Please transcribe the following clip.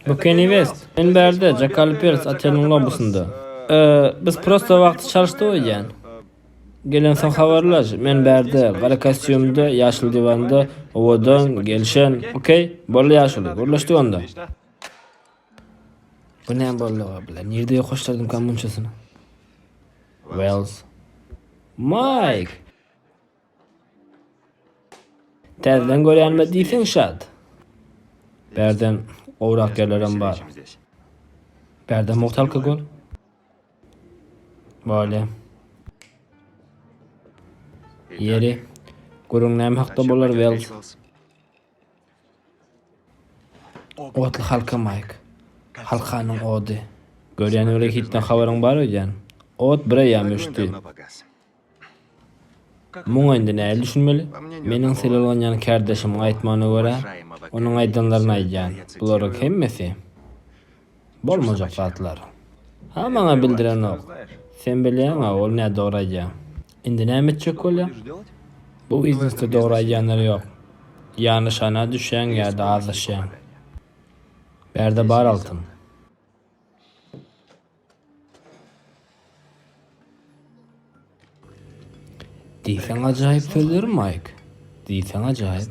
Bikini West, men bärde Jackal Pers oteliň lobbysynda. Biz prosta wagty çalyşdyk öýdýän. Gelensoň habarlaş, men bärde, gara kostýumda, ýaşyl diwanda, owadan, gelşen. Okey? Boldy ýaşuly, gürleşdik onda. Bu näme bolduga, bile, nirde ýokaşdyrdymyka munçasyny? Wales. Maýk! Täzeden görýänime diýseň şat. Bärden gowrak ýerlerem bar. Bärde mugt alkogol. Bale. Ýeri. Gürüň näme hakda bolar Wells? Otly halka Mike. Halkanyň ody. Görýän öýle hitden habaryň bar öýdýän. Ot bir eýýam öçdi. Muňa indi nähili düşünmeli? Meniň sylaglanýan kärdeşimiň aýtmagyna görä, onuň aýdanlaryny aýdýan. Bularyň hemmesi bolmajak zatlar. A maňa bildirenok. Sen bilýäň-a, ol nä dogry aýdýar. Indi näme etjek bolýaň? Bu biznesde dogry aýdýanlar ýok. Ýa nyşana düşýäň ýa-da azaşýaň. Bärde bar altyn. Diýseň ajaýyp sözler Maýk. Diýseň ajaýyp.